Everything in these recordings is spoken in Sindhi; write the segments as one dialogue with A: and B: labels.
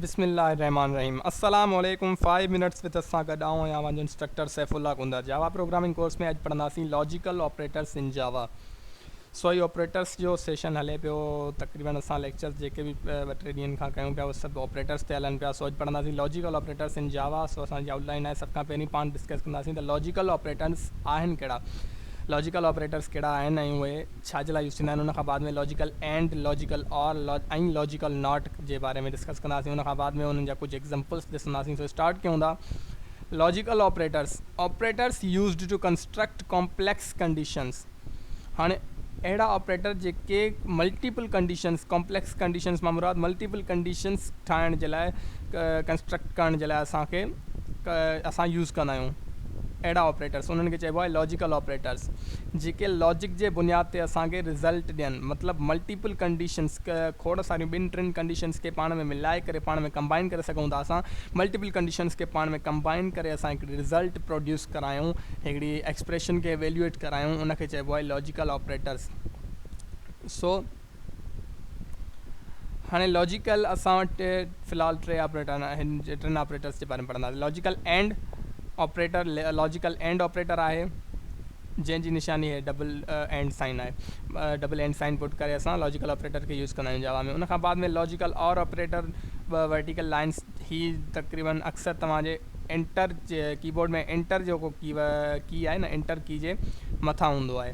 A: بسم الله الرحمٰن الرحيم السلام عليڪم فائيو منٽس وٿ اس سان گڏ آئون آهيان اوهان جو instructor Saifullah Kondhar Java programming course ۾ اڄ پڙهنداسين لاجيڪل آپريٽرس ان جاوا سوئي آپريٽرس جو سيشن هلي پيو تقريبن اسان ليڪچرس جيڪي به ٻه ٽي ڏينهن کان ڪيون پيا اهي سڀ آپريٽرس تي هلن پيا سو اڄ پڙهنداسين لاجيڪل آپريٽرس ان جاوا سو اسان جي آؤٽ لائن آهي سڀ کان پهرين پاڻ ڊسڪس ڪنداسين ته لاجيڪل آپريٽرس آهن ڪهڙا لاجيڪل آپريٽرس ڪهڙا آهن ۽ اهي ڇا جي لاء يوز ٿيندا آهن ان کان بعد ۾ logical and, logical or ۽ logical not جي باري ۾ ڊسڪس ڪنداسين ان کان بعد ۾ انهن جا ڪجهه ايگزامپلس ڏسنداسين سو اسٽارٽ ڪيون ٿا logical operators operators used to construct complex conditions هاڻي اهڙا آپريٽر جيڪي ملٽيپل ڪنڊيشنس ڪامپليڪس ڪنڊيشنس مان مراد ملٽيپل ڪنڊيشنس ٺاهڻ جي لاء ڪنسٽرڪٽ ڪرڻ جي لاء اسان کي اسان يوز ڪندا آهيون اهڙا آپريٽرس انهن کي چئبو آهي لاجيڪل آپريٽرس جيڪي لاجڪ جي بنياد تي اسان کي رزلٽ ڏين مطلب ملٽيپل ڪنڊيشنز کوڙ ساريون ٻن ٽن ڪنڊيشنز کي پاڻ ۾ ملائي ڪري پاڻ ۾ ڪمبائن ڪري سگهون ٿا اسان ملٽيپل ڪنڊيشنز کي پاڻ ۾ ڪمبائن ڪري اسان هڪڙي رزلٽ پروڊيوس ڪرايون هڪڙي ايڪسپريشن کي ايويليوئيٽ ڪرايون ان کي چئبو آهي لاجيڪل آپريٽرز سو هاڻي لاجيڪل اسان وٽ في الحال ٽي آپريٽر آهن ٽن آپريٽرس جي باري ۾ پڙهنداسين logical and operator logical and operator آهي جنهن جي نشاني هي ڊبل اينڊ سائن آهي ڊبل اينڊ سائن پٽ ڪري اسان لاجيڪل آپريٽر کي يوز ڪندا آهيون جواب ۾ ان کان بعد ۾ logical or operator vertical lines هي تقريبن اڪثر توهان جي انٽر ڪيبورڊ ۾ انٽر جيڪو ڪي ڪي آهي نه انٽر ڪي جي مٿان هوندو آهي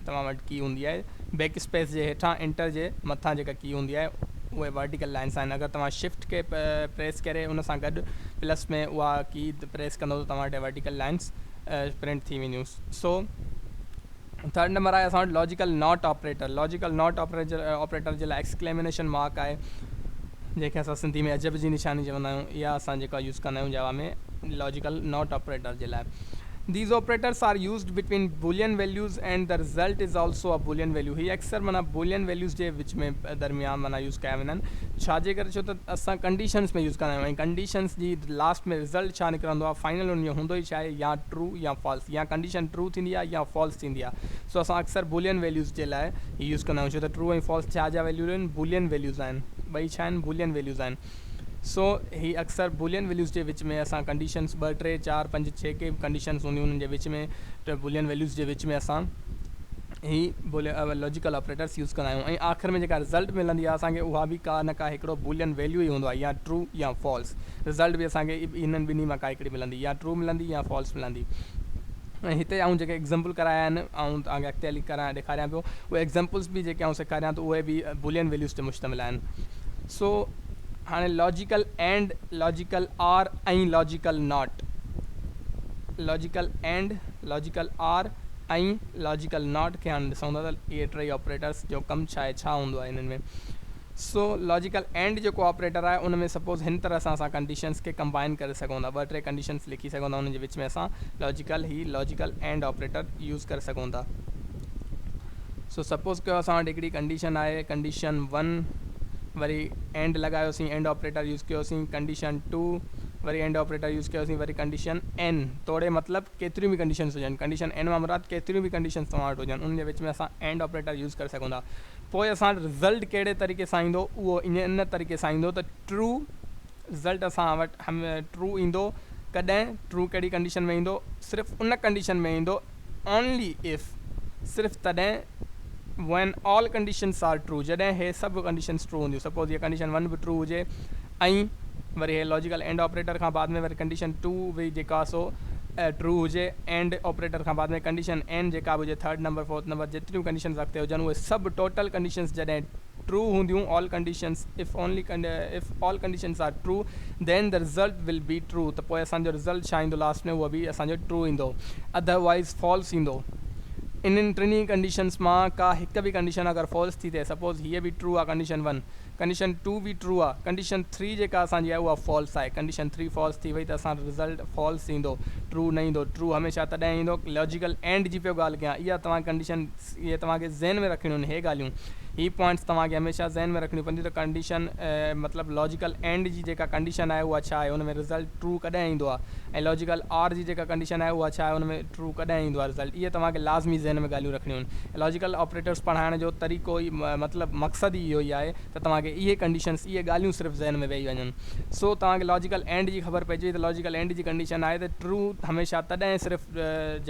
A: توهان وٽ ڪي هوندي آهي بيڪ اسپيس جي هيٺان انٽر جي مٿان جيڪا ڪي هوندي آهي اهي ورٽيڪل لائنس آهن اگر توهان شفٽ کي پريس ڪري ان سان گڏ پلس ۾ اها ڪي پريس ڪندو ته توهان وٽ ورٽيڪل لائنس پرنٽ ٿي وينديون سو ٿرڊ نمبر آهي اسان وٽ logical not operator logical not operator operator جي لاء ايڪسڪليمنيشن مارڪ آهي جنهن کي اسان سنڌي ۾ عجب جي نشاني چوندا آهيون، اها اسان جيڪا يوز ڪندا آهيون جاوا ۾ لاجيڪل ناٽ آپريٽر جي لاء. These operators are used between Boolean values and the result is also a Boolean value هي اڪثر معنيٰ Boolean values جي وچ ۾ درميان معنيٰ يوز ڪيا ويندا آهن. ڇا جي ڪري ڇو ته اسان ڪنڊيشنز ۾ يوز ڪندا آهيون ۽ ڪنڊيشنز جي لاسٽ ۾ رزلٽ ڇا نڪرندو آهي فائنل ان جو هوندو ئي ڇا آهي يا ٽرو يا فالس يا ڪنڊيشن ٽرو ٿيندي آهي يا فالس ٿيندي آهي. سو اسان اڪثر بولين ويليوز جي لاء هي يوز ڪندا آهيون ڇو ته ٽرو ۽ فالس ڇا جا ويليو آهن بولين ويليوز آهن ٻئي ڇا آهن بولين ويليوز آهن سو هي اڪثر بولين ويليوز جي وچ ۾ اسان ڪنڊيشنز ٻه ٽي چار پنج ڇهه ڪي به ڪنڊيشنز هونديون انهن جي وچ ۾ ٽه بولين ويليوز جي وچ ۾ اسان هي بولين لاجيڪل آپريٽرس يوز ڪندا آهيون ۽ آخر ۾ جيڪا رزلٽ ملندي آهي اسان کي اها به ڪا نه ڪا هڪڙو بولين ويليو ئي هوندو آهي يا ٽرو يا فالس رزلٽ به اسان کي انهن ٻنهي مان ڪا هڪڙي ملندي يا ٽرو ملندي يا فالس ملندي ۽ هتي آئون جيڪي ايگزيمپل ڪرايا آهن آئون توهان کي اڳتي هلي ڪران ڏيکاريان پيو اهي ايگزيمپلس به جيڪي آئون سيکاريان ٿو اهي به بولين ويليوز تي مشتمل آهن سو هاڻي logical and logical or ۽ logical not logical and logical or ۽ logical not کي هاڻي ڏسون ٿا ته اهي ٽيئي آپريٽرس جو ڪم ڇا آهي ڇا هوندو آهي انهن ۾ سو لاجيڪل اينڊ جيڪو آپريٽر آهي ان ۾ سپوز هن طرح سان اسان ڪنڊيشنز کي ڪمبائن ڪري سگهون ٿا ٻه ٽي ڪنڊيشنز لکي سگهون ٿا انهن جي وچ ۾ اسان لاجيڪل هي لاجيڪل اينڊ آپريٽر يوز ڪري سگهون ٿا سو سپوز ڪيو اسان وٽ هڪڙي ڪنڊيشن آهي ڪنڊيشن ون وري اينڊ لڳايوسين اينڊ آپريٽر يوز ڪيوسين ڪنڊيشن ٽو وري اينڊ آپريٽر يوز ڪيوسين وري ڪنڊيشن اين توڙي مطلب ڪيتريون به ڪنڊيشنز هجن ڪنڊيشن اين مان مراد ڪيتريون به ڪنڊيشنز توهان وٽ هجن انهن جي وچ ۾ اسان اينڊ آپريٽر يوز ڪري سگهون ٿا پوء اسان وٽ رزلٽ ڪهڙي طريقي سان ايندو اهو ان طريقي سان ايندو ته ٽرو رزلٽ اسان وٽ ٽرو ايندو ڪڏهن ٽرو ڪهڙي ڪنڊيشن ۾ ايندو صرف ان ڪنڊيشن ۾ ايندو اونلي اف صرف تڏهن when all conditions are true جڏهن هي سڀ ڪنڊيشنس ٽرو هونديون سپوز هيء ڪنڊيشن ون به ٽرو هجي ائين وري هي لاجيڪل اينڊ آپريٽر کان بعد ۾ وري ڪنڊيشن ٽو وي جيڪا سو ٽرو هجي اينڊ آپريٽر کان بعد ۾ ڪنڊيشن اين جيڪا به هجي ٿرڊ نمبر فورٿ نمبر جيتريون ڪنڊيشنز اڳتي هجن اهي سڀ ٽوٽل ڪنڊيشنز جڏهن ٽرو هونديون all conditions if only if all conditions are true then the result will be true ته پوء اسان جو رزلٽ ڇا ايندو لاست ۾ اهو به اسان جو ٽرو ايندو اڌر وائيز فالس ايندو انهن ٽنهي ڪنڊيشنز مان ڪا هڪ به ڪنڊيشن اگر فالس ٿي ٿئي سپوز هيء به ٽرو آهي ڪنڊيشن ون ڪنڊيشن ٽو به ٽرو آهي ڪنڊيشن ٿري جيڪا اسان جي آهي اها فالس آهي ڪنڊيشن ٿري فالس ٿي وئي ته اسان جو رزلٽ فالس ايندو ٽرو نه ايندو ٽرو هميشه تڏهن ايندو لاجيڪل اينڊ جي پيو ڳالهه ڪيان اها توهان کي ڪنڊيشن اهي توهان کي ذهن ۾ رکڻيون آهن هي ڳالهيون هي پوائنٽس توهان کي هميشه ذهن ۾ رکڻيون پونديون ته ڪنڊيشن مطلب لاجيڪل اينڊ جي جيڪا ڪنڊيشن آهي اها ڇا آهي ان ۾ رزلٽ ٽرو ڪڏهن ايندو آهي ۽ لاجيڪل آر جي جيڪا ڪنڊيشن آهي اها ڇا آهي ان ۾ ٽرو ڪڏهن ايندو آهي رزلٽ اهي توهان کي لازمي ذهن ۾ ڳالهيون رکڻيون آهن الاجيڪل آپريٽرس پڙهائڻ جو طريقو ئي مطلب مقصد ئي اهو ئي آهي ته توهان کي اهي ڪنڊيشنس اهي ڳالهيون صرف ذهن ۾ ويهي وڃن سو توهان کي لاجيڪل اينڊ جي خبر پئجي ته لاجيڪل اينڊ جي ڪنڊيشن آهي ته ٽرو هميشه تڏهن صرف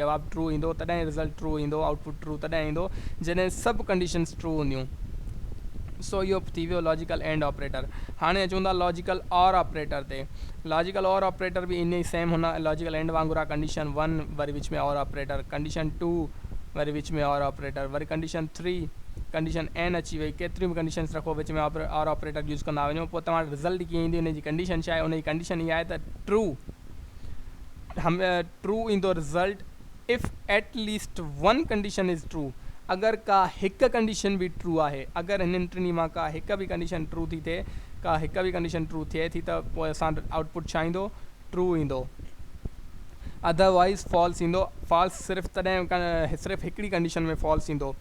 A: جواب ٽرو ايندو تڏهن رزلٽ ٽرو ايندو آئوٽ پٽ ٽرو تڏهن ايندو جڏهن سڀ ڪنڊيشنس ٽرو هونديون سو اهو ٿي ويو لاجيڪل اينڊ آپريٽر هاڻي اچون ٿا لاجيڪل اور آپريٽر تي لاجيڪل اور آپريٽر به ايئن ئي سيم هوندا آهن. لاجيڪل اينڊ وانگر آهي ڪنڊيشن ون وري وچ ۾ اور آپريٽر، ڪنڊيشن ٽو وري وچ ۾ اور آپريٽر، وري ڪنڊيشن ٿري، ڪنڊيشن اين اچي وئي، ڪيتريون به ڪنڊيشنس رکو وچ ۾ اور آپريٽر يوز ڪندا وڃو پوء توهان وٽ رزلٽ ڪيئن ايندو ان جي ڪنڊيشن ڇا آهي ان جي ڪنڊيشن اها آهي ته ٽرو ٽرو ايندو result. If at least one condition is true, اگر ڪا هڪ ڪنڊيشن به ٽرو آهي، اگر هنن ٽنهي مان ڪا هڪ به ڪنڊيشن ٽرو ٿي ٿئي، ڪا هڪ به ڪنڊيشن ٽرو ٿئي ٿي ته پوء اسان وٽ آئوٽ پٽ ڇا ايندو؟ ٽرو ايندو. اڌر وائيز فالس ايندو. فالس صرف تڏهن صرف هڪڙي ڪنڊيشن ۾ فالس ايندو.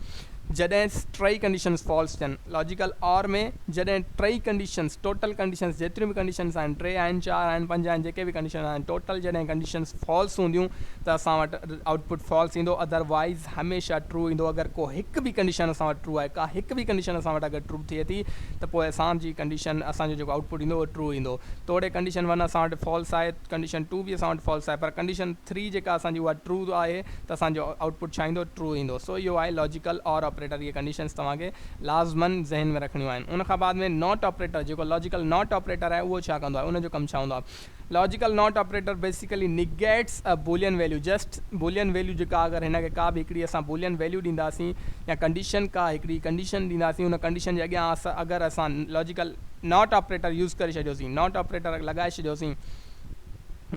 A: جڏهن ٽئي ڪنڊيشنز فالس ٿين. لاجيڪل آر ۾ جڏهن ٽئي ڪنڊيشنز، ٽوٽل ڪنڊيشنز، جيتريون به ڪنڊيشنز آهن، ٽي آهن، چار آهن، پنج آهن، جيڪي به ڪنڊيشنز آهن، ٽوٽل جڏهن ڪنڊيشنز فالس هونديون ته اسان وٽ آئوٽ پٽ فالس ايندو اڌر وائيز هميشه ٽرو ايندو اگر ڪو هڪ به ڪنڊيشن اسان وٽ ٽرو آهي ڪا هڪ به ڪنڊيشن اسان وٽ اگر ٽرو ٿئي ٿي ته پوء اسان جي ڪنڊيشن اسان جو جيڪو آئوٽ پٽ ايندو اهو ٽرو ايندو توڙي ڪنڊيشن ون اسان وٽ فالس آهي ڪنڊيشن ٽو به اسان وٽ فالس آهي پر ڪنڊيشن ٿري جيڪا اسان جي اها ٽرو آهي ته اسان جو آئوٽ پٽ ڇا ايندو ٽرو ايندو سو اهو آهي لاجيڪل اور آپريٽر اهي ڪنڊيشنس توهان کي لازمن ذهن ۾ رکڻيون آهن ان کان بعد ۾ ناٽ آپريٽر جيڪو لاجيڪل ناٽ آپريٽر آهي اهو ڇا ڪندو آهي ان جو ڪم ڇا هوندو آهي logical not operator basically negates a Boolean value just Boolean value جيڪا اگر هن کي ڪا به هڪڙي اسان بولين ويليو ڏينداسين يا ڪنڊيشن ڪا هڪڙي ڪنڊيشن ڏينداسين ان ڪنڊيشن جي اڳيان اگر اسان لاجيڪل ناٽ آپريٽر يوز ڪري ڇڏيوسين ناٽ آپريٽر لڳائي ڇڏيوسين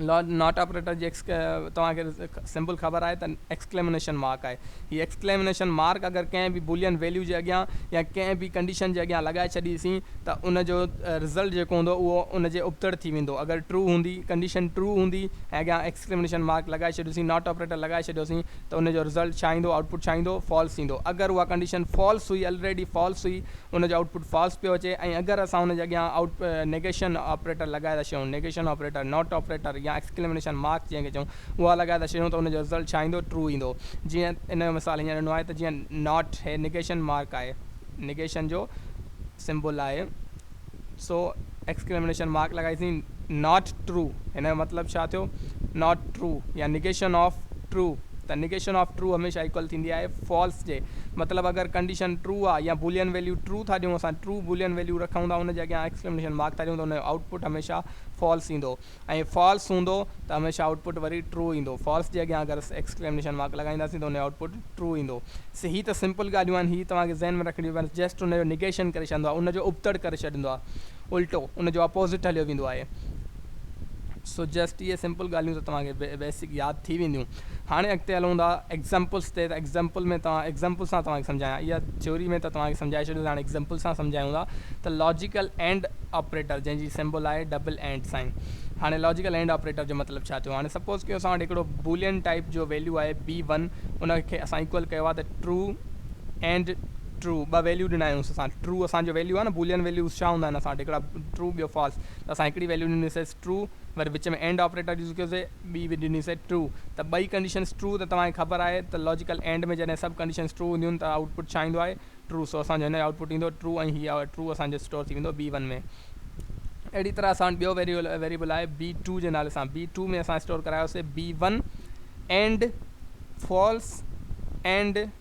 A: ناٽ آپريٽر جي توهان کي سمبل خبر آهي ته ايڪسڪليمنيشن مارڪ آهي هي ايڪسڪليمنيشن مارڪ اگر ڪنهن به بولين ويليو جي اڳيان يا ڪنهن به ڪنڊيشن جي اڳيان لڳائي ڇڏيسين ته ان جو رزلٽ جيڪو هوندو اهو ان جي ابتڙ ٿي ويندو اگر ٽرو هوندي ڪنڊيشن ٽرو هوندي ۽ اڳيان ايڪسڪليمنيشن مارڪ لڳائي ڇڏيوسين ناٽ آپريٽر لڳائي ڇڏيوسين ته ان جو رزلٽ ڇا ايندو آئوٽ پٽ ڇا ايندو فالس ايندو اگر اها ڪنڊيشن فالس هئي الريڊي فالس هئي ان جو آئوٽ پٽ فالس پيو اچي ۽ اگر اسان ان جي اڳيان آئوٽ نيگيشن آپريٽر لڳائي ٿا ڇڏيون، نيگيشن آپريٽر، ناٽ آپريٽر يا ايڪسڪليمينيشن مارڪ جنهن کي چئون، اها لڳائي ٿا ڇڏيون ته ان جو رزلٽ ڇا ايندو، ٽرو ايندو. جيئن ان جو مثال هيئن ڏنو آهي ته جيئن ناٽ هي نيگيشن مارڪ آهي، نيگيشن جو سمبل آهي، سو ايڪسڪليمينيشن مارڪ لڳائيسين ناٽ ٽرو هن جو مطلب ڇا ٿيو ناٽ ٽرو يا نيگيشن آف ٽرو ته نيگيشن آف ٽرو هميشه ايڪول ٿيندي آهي فالس جي مطلب اگر ڪنڊيشن ٽرو آهي يا بولين ويليو ٽرو ٿا ڏيون اسان ٽرو بولين ويليو رکون ٿا ان جي اڳيان ايڪسڪليمينيشن مارڪ ٿا ڏيون ته ان جو آئوٽ پٽ هميشه فالس ايندو ۽ فالس هوندو ته هميشه آئوٽ پٽ وري ٽرو ايندو فالس جي اڳيان اگر اسين ايڪسڪليمنيشن مارڪ لڳائينداسين ته ان جو آئوٽ پٽ ٽرو ايندو سي هي ته سمپل ڳالهيون آهن هي توهان کي ذهن ۾ رکڻيون پونديون جسٽ ان جو نيگيشن ڪري ڇڏندو آهي ان جو ابتڙ ڪري ڇڏيندو آهي الٽو ان جو اپوزٽ هليو ويندو آهي سو جسٽ اهي سمپل ڳالهيون ته توهان کي بيسڪ ياد ٿي وينديون. هاڻي اڳتي هلون ٿا ايگزامپلس تي ته ايگزامپل ۾ توهان ايگزامپل سان توهان کي سمجهايان اها ٿيوري ۾ ته توهان کي سمجهائي ڇڏيو سي هاڻي ايگزامپل سان سمجهايون ٿا ته لاجيڪل اينڊ آپريٽر جنهن جي سمبل آهي ڊبل اينڊ سائين هاڻي لاجيڪل اينڊ آپريٽر جو مطلب ڇا ٿيو هاڻي سپوز ڪيو اسان وٽ هڪڙو بولين ٽائيپ جو ويليو آهي بي ون ان کي اسان ايڪول ڪيو آهي ته ٽرو اينڊ ٽرو ٻه ويليو ڏنايونس اسان ٽرو اسان جو ويليو آهي نه بولين ويليوز ڇا هوندا آهن اسان وٽ هڪڙا ٽرو ٻيو فالس ته اسان هڪڙي ويليو ڏنيسيس True، وري وچ ۾ and آپريٽر يوز ڪيو سي، ٻي به ڏني سي True، ته ٻئي ڪنڊيشنز True ته توهان کي خبر آهي ته لاجيڪل and ۾ جڏهن سڀ ڪنڊيشنز True هونديون ته آئوٽ پٽ ڇا ايندو آهي True، سو اسان جو هن جو آئوٽ پٽ ايندو True ۽ هي True اسان جو اسٽور ٿي ويندو B1 ۾. اهڙي طرح اسان وٽ ٻيو ويريبل آهي B2 جي نالي سان، B2 ۾ اسان اسٽور ڪرايو سي B1 and False and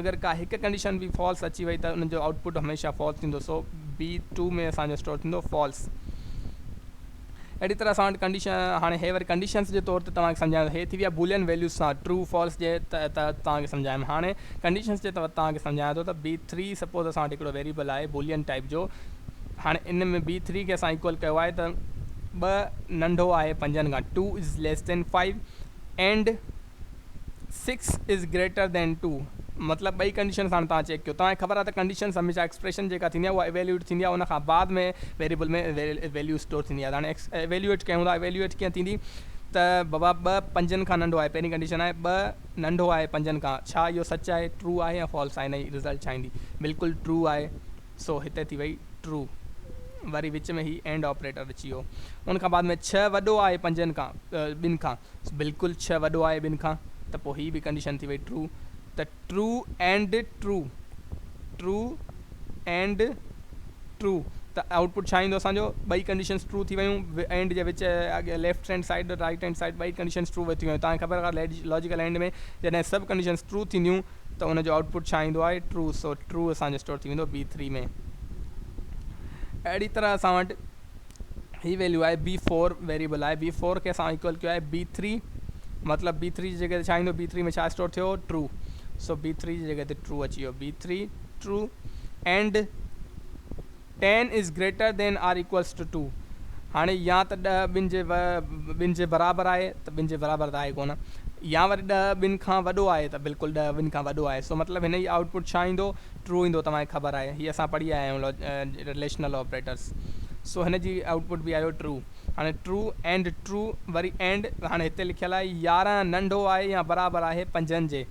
A: اگر ڪا هڪ ڪنڊيشن به فالس اچي وئي ته ان جو آئوٽ پٽ هميشه فالس ٿيندو سو بي ٽو ۾ اسان جو اسٽور ٿيندو فالس اهڙي طرح اسان وٽ ڪنڊيشن هاڻي هي وري ڪنڊيشنس جي طور تي توهان کي سمجهايان هي ٿي ويا بولين ويليوز سان ٽرو فالس جي تحت توهان کي سمجهايم هاڻي ڪنڊيشنس جي تحت توهان کي سمجهايان ٿو ته بي ٿري سپوز اسان وٽ هڪڙو ويريبل آهي بولين ٽائپ جو هاڻي ان ۾ بي ٿري کي اسان ايڪول ڪيو آهي ته ٻه ننڍو آهي پنجن کان two is less than five and six is greater than two مطلب ٻئي ڪنڊيشن ساڻ توهان چيڪ ڪيو توهان کي خبر آهي ته ڪنڊيشنز هميشه ايڪسپريشن جيڪا ٿيندي آهي اها ايويليوٽ ٿيندي آهي ان کان بعد ۾ ويريبل ۾ ويليو اسٽور ٿيندي آهي ته هاڻي ايويليوٽ ڪيون ٿا ايويليوٽ ڪيئن ٿيندي ته بابا ٻه پنجن کان ننڍو آهي پهرين ڪنڊيشن آهي ٻه ننڍو آهي پنجن کان ڇا اهو سچ آهي ٽرو آهي يا فالس آهي ان جي رزلٽ ڇا ايندي بلڪل ٽرو آهي سو هتي ٿي وئي ٽرو وري وچ ۾ هي اينڊ آپريٽر اچي ويو ان کان بعد ۾ ڇهه وڏو آهي پنجن کان ٻن کان بلڪل ڇهه وڏو آهي ٻن کان ته پوء هي به ڪنڊيشن ٿي وئي ٽرو ته true and true true and true ته آئوٽ پٽ ڇا ايندو اسان جو ٻئي ڪنڊيشنز ٽرو ٿي ويون اينڊ جي وچ اڳي left hand side right hand side ٻئي ڪنڊيشنز ٽرو ٿي ويون تان خبر لاجيڪل اينڊ ۾ جڏهن سڀ ڪنڊيشنز ٽرو ٿينديون ته ان جو آئوٽ پٽ ڇا ايندو آهي ٽرو سو ٽرو اسان جو اسٽور ٿي ويندو بي ٿري ۾ اهڙي طرح اسان وٽ هي ويليو آهي بي فور ويريبل آهي بي فور کي اسان ايڪول ڪيو آهي بي ٿري مطلب بي ٿري جي جڳه تي ڇا ايندو بي ٿري ۾ ڇا اسٽور ٿيو ٽرو سو بي ٿري جي جڳه تي ٽرو اچي ويو B three true and ten is greater than or equals to two هاڻي يا ته ڏهه ٻن جي ٻن جي برابر آهي ته ٻن جي برابر ته آهي ڪونه يا وري ڏهه ٻن کان وڏو آهي ته بلڪل ڏهه ٻن کان وڏو آهي سو مطلب هن جي آئوٽ پٽ ڇا ايندو ٽرو ايندو توهان کي خبر آهي هي اسان پڙهي آيا آهيون رليشنل آپريٽرس سو هن جي آئوٽ پٽ به آيو ٽرو هاڻي ٽرو اينڊ ٽرو وري اينڊ هاڻي هتي لکيل آهي يارهن ننڍو آهي يا برابر آهي پنجن جي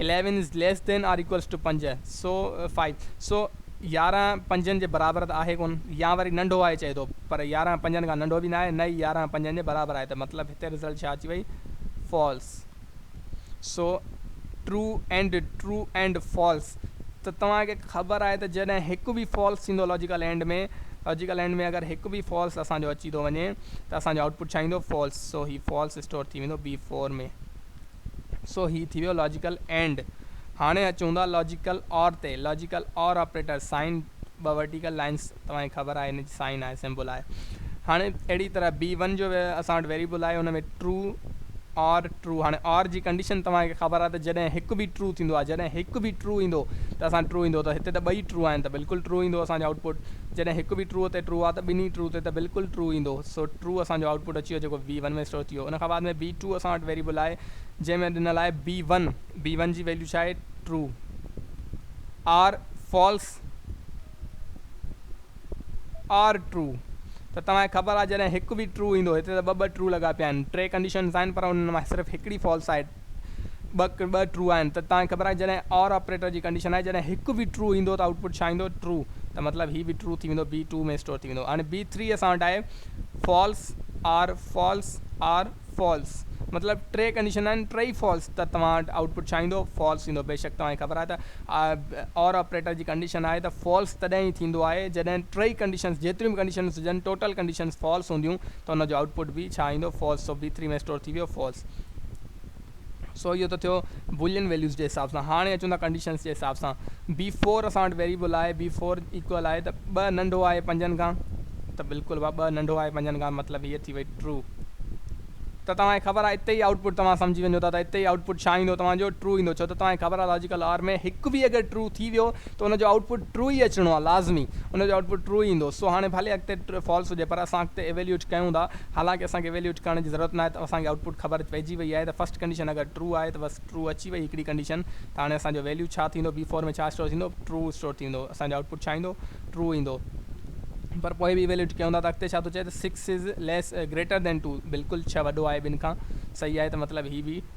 A: 11 is less than or equals to پنج سو فائيو سو يارهن پنجن جي برابر ته آهي ڪونه يا وري ننڍو آهي چئي ٿو پر يارهن پنجن کان ننڍو به نه آهي نه ئي يارهن پنجن جي برابر آهي ته مطلب هتي رزلٽ ڇا اچي وئي False so true and true and False ته توهان کي خبر آهي ته جڏهن هڪ به False ٿيندو لاجيڪل اينڊ ۾ لاجيڪل اينڊ ۾ اگر هڪ به False اسان جو اچي ٿو وڃي ته اسان جو آئوٽ پٽ ڇا ايندو False سو هي False اسٽور ٿي ويندو B4 ۾. سو هي ٿي ويو لاجيڪل اينڊ. هاڻي اچون ٿا لاجيڪل اور تي. لاجيڪل اور آپريٽر سائن ٻه ورٽيڪل لائنس توهان کي خبر آهي ان جي سائن آهي سمبل آهي. هاڻي اهڙي طرح بي ون جو اسان وٽ ويريبل آهي ان ۾ ٽرو اور ٽرو هاڻي اور جي ڪنڊيشن توهان کي خبر آهي ته جڏهن هڪ به ٽرو ٿيندو آهي جڏهن هڪ به ٽرو ايندو ته اسان ٽرو ايندو ته هتي ته ٻئي ٽرو آهن ته بلڪل ٽرو ايندو اسان جو آئوٽ پٽ جڏهن هڪ به ٽرو تي ٽرو آهي ته ٻنهي ٽرو تي ته بلڪل ٽرو ايندو سو ٽرو اسان جو آئوٽ پٽ اچي ويو جيڪو بي ون ۾ اسٽور ٿي ويو ان کان بعد ۾ بي ٽرو اسان وٽ ويريبل آهي جنهن ۾ ڏنل آهي بي ون بي ون جي ويليو ڇا آهي true or false or true ته توهان کي خبر آهي جڏهن هڪ به ٽرو ايندو هتي ته ٻه ٻه ٽرو لڳا پيا آهن ٽي ڪنڊيشنز آهن پر انهن مان صرف هڪڙي فالس آهي ٻه ٻه ٽرو آهن ته توهان کي خبر آهي جڏهن آر آپريٽر جي ڪنڊيشن آهي جڏهن هڪ به ٽرو ايندو ته آؤٽ پٽ ڇا ايندو ٽرو ته مطلب هي به ٽرو ٿي ويندو بي ٽو ۾ اسٽور ٿي ويندو هاڻي بي ٿري اسان وٽ آهي false or false or false مطلب ٽي ڪنڊيشن آهن ٽئي فالس ته توهان وٽ آئوٽ پٽ ڇا ايندو فالس ايندو بيشڪ توهان کي خبر آهي ته اور آپريٽر جي ڪنڊيشن آهي ته فالس تڏهن ئي ٿيندو آهي جڏهن ٽئي ڪنڊيشنز جيتريون به ڪنڊيشنز هجن ٽوٽل ڪنڊيشنز فالس هونديون ته ان جو آئوٽ پٽ به ڇا ايندو false so B three ۾ store ٿي ويو فالس سو اهو ته ٿيو بولين ويليوز جي حساب سان هاڻي اچون ٿا ڪنڊيشنس جي حساب سان بي فور اسان وٽ ويريبل آهي بي فور ايڪول آهي ته ٻه ننڍو آهي پنجن کان ته بلڪل وا ٻه ننڍو آهي پنجن کان مطلب هيء ٿي وئي ٽرو ته توهان کي خبر آهي اتي ئي آئوٽ پٽ توهان سمجهي وڃو ٿا ته اتي ئي آئوٽ پٽ ڇا ايندو توهان جو ٽرو ايندو ڇو ته توهان کي خبر آهي لاجيڪل آر ۾ هڪ به اگر ٽرو ٿي ويو ته ان جو آئوٽ پٽ ٽرو ئي اچڻو آهي لازمي ان جو آئوٽ پٽ ٽرو ئي ايندو سو هاڻي ڀلي اڳتي فالس هجي پر اسان اڳتي ايويليوٽ ڪيون ٿا حالانڪه اسان کي ايويليوٽ ڪرڻ جي ضرورت ناهي ته اسان کي آئوٽ پٽ خبر پئجي وئي آهي ته فرسٽ ڪنڊيشن اگر ٽرو آهي ته بس ٽرو اچي وئي هڪڙي ڪنڊيشن ته هاڻي اسان جو ويليو ڇا ٿيندو بي فور ۾ ڇا اسٽور ٿيندو ٽرو اسٽور ٿيندو اسان جو آئوٽ پٽ ڇا ايندو ٽرو ايندو پر پوء به ايويليوٽ ڪيون ٿا ته اڳتي ڇا ٿو چئي ته six is less greater than two بلڪل ڇهه وڏو آهي ٻن کان صحيح آهي ته مطلب هي به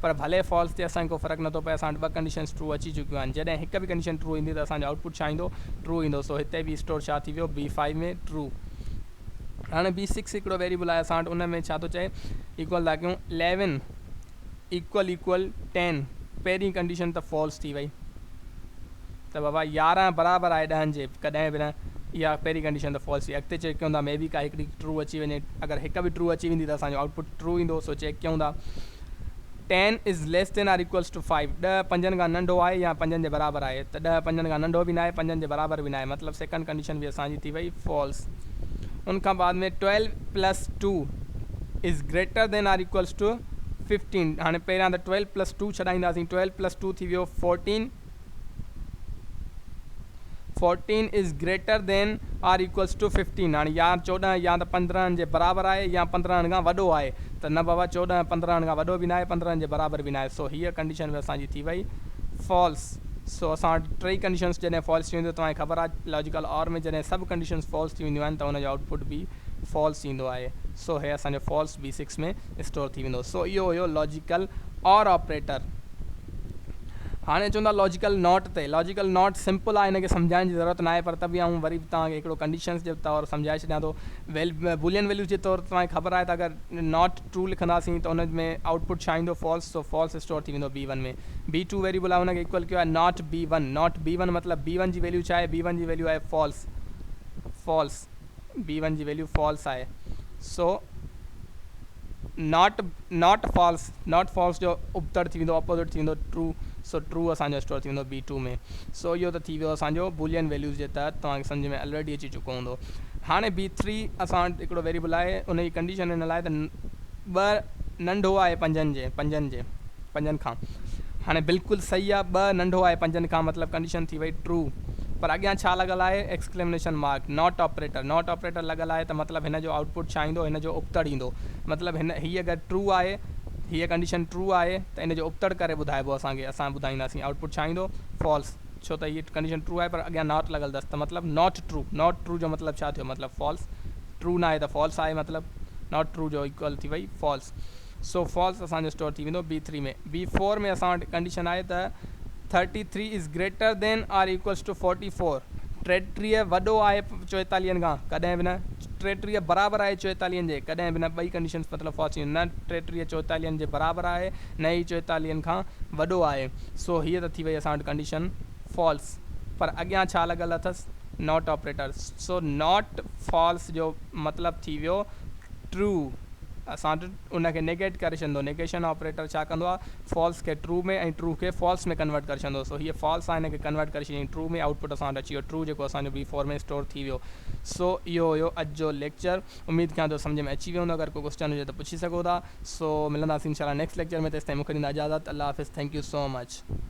A: پر ڀلي فالس تي اسان کي ڪو فرق نٿو پئي اسان وٽ ٻه ڪنڊيشنز ٽرو اچي چڪيون آهن جڏهن هڪ به ڪنڊيشن ٽرو ايندي ته اسان جو آئوٽ پٽ ڇا ايندو ٽرو ايندو سو هتي بي اسٽور ڇا ٿي ويو بي فائيو ۾ ٽرو هاڻي بي سڪس هڪڙو ويريبل آهي اسان وٽ ان ۾ ڇا ٿو چئي ايڪول ٿا ڪيون اليون ايڪول ايڪول ٽين پهرين ڪنڊيشن ته فالس ٿي وئي ته بابا يارهن برابر آهي ڏهن جي ڪڏهن به نه اها پهرين ڪنڊيشن ته فالس ٿي اڳتي چيڪ ڪيون ٿا مي بي ڪا هڪڙي ٽرو اچي وڃي اگر هڪ به ٽرو اچي ويندي ته اسان جو آئوٽ پٽ ٽرو ايندو سو چيڪ ڪيون ٿا ten is less than or equals to five ڏهه پنجن کان ننڍو آهي يا پنجن جي برابر آهي ته ڏهه پنجن کان ننڍو به ناهي پنجن جي برابر به ناهي مطلب سيڪنڊ ڪنڊيشن به اسان جي ٿي وئي فالس ان کان بعد ۾ twelve plus two is greater than or equals to fifteen هاڻي پهريان ته ٽويلو پلس ٽو ڇڏائينداسين ٽويلو پلس ٽو ٿي ويو fourteen fourteen is greater than or equals to fifteen هاڻي يا چوڏهن يا ته پندرهن جي برابر آهي يا پندرهن کان وڏو آهي ته نه بابا چوڏهن پندرهن کان وڏو به ناهي پندرهن جي برابر به ناهي سو هيء ڪنڊيشن به اسان جي ٿي وئي فالس سو اسان وٽ ٽئي ڪنڊيشنس جڏهن فالس ٿي وينديون توهان کي خبر آهي ته لاجيڪل اور ۾ جڏهن سڀ ڪنڊيشنس فالس ٿي وينديون آهن ته ان جو آئوٽ پٽ به فالس ايندو آهي سو هيء اسان جو فالس بي سڪس ۾ اسٽور ٿي ويندو سو اهو هيو لاجيڪل اور آپريٽر. هاڻي اچون ٿا لاجيڪل ناٽ تي. لاجيڪل ناٽ سمپل آهي ان کي سمجهائڻ جي ضرورت ناهي پر ته به آئون وري به توهان کي هڪڙو ڪنڊيشنز جي طور سمجهائي ڇڏيان ٿو. بولين ويليوز جي طور تي توهان کي خبر آهي ته اگر ناٽ ٽرو لکنداسين ته ان ۾ آئوٽ پٽ ڇا ايندو فالس سو فالس اسٽور ٿي ويندو B one ۾ B two variable آهي ان کي ايڪول ڪيو آهي not B one not B one مطلب بي ون جي ويليو ڇا آهي بي ون جي ويليو آهي فالس فالس بي ون جي ويليو فالس آهي so not not false not false جو ابتڙ ٿي ويندو اپوزٽ ٿي ويندو ٽرو سو ٽرو اسان جو اسٽور ٿي ويندو بي ٽو ۾ سو اهو ته ٿي ويو اسان جو بولين ويليوز جي تحت توهان کي سمجھ ۾ الريڊي اچي چڪو هوندو هاڻي بي ٿري اسان وٽ هڪڙو ويريبل آهي ان جي ڪنڊيشن هن لاء ته ٻه ننڍو آهي پنجن جي پنجن جي پنجن کان هاڻي بلڪل صحيح آ ٻه ننڍو آهي پنجن کان مطلب ڪنڊيشن ٿي وئي ٽرو پر اڳيان ڇا لڳل آهي exclamation mark not operator not operator لڳل آهي ته مطلب هن جو آئوٽپٽ ڇا ايندو هن جو ابتڙ ايندو مطلب هن هي اگر ٽرو آهي هيء ڪنڊيشن ٽرو آهي ته ان جو ابتڙ ڪري ٻڌائبو اسان کي اسان ٻڌائينداسين آئوٽپٽ ڇا ايندو فالس ڇو ته هيء ڪنڊيشن ٽرو آهي پر اڳيان ناٽ لڳل اٿس ته مطلب ناٽ ٽرو ناٽ ٽرو جو مطلب ڇا ٿيو مطلب فالس ٽرو ناهي ته فالس آهي مطلب ناٽ ٽرو جو ايڪوئل ٿي وئي فالس سو فالس اسان جو اسٽور ٿي ويندو بي ٿري ۾ بي فور ۾ اسان وٽ ڪنڊيشن آهي ته thirty three is greater than or equals to forty four ٽيٽيريهه وڏو آهي چوئيتاليهن کان ڪڏهن به نه ٽيٽيريهه برابر آهي چوئيتاليهن جي ڪڏهن به نه ٻئي ڪنڊيشنس مطلب فالس ٿي وينديون نه ٽيٽيريهه چوئيتاليهن جي برابر آهي نه ئي چوئيتاليهن کان وڏو آهي سو هيء ته ٿي وئي اسان وٽ ڪنڊيشن فالس پر اڳيان ڇا لڳل اٿس not operator so not false جو مطلب ٿي ويو True اسان وٽ ان کي نيگيٽ ڪري ڇڏندو نيگيشن آپريٽر ڇا ڪندو آهي فالس کي ٽرو ۾ ۽ ٽرو کي فالس ۾ ڪنورٽ ڪري ڇڏندو سو هيء فالس آهي هن کي ڪنورٽ ڪري ڇڏيائين ٽرو ۾ آئوٽ پٽ اسان وٽ اچي ويو ٽرو جيڪو اسان جو بي فور ۾ اسٽور ٿي ويو سو اهو هيو اڄ جو ليڪچر اميد ڪيان ٿو سمجهه ۾ اچي ويو هوندو اگر ڪو ڪوسچن هجي ته پڇي سگهو ٿا سو ملنداسين انشاء الله نيڪسٽ ليڪچر ۾ تيسين مون کي ڏيندا اجازت الله حافظ ٿينڪ يو سو مچ.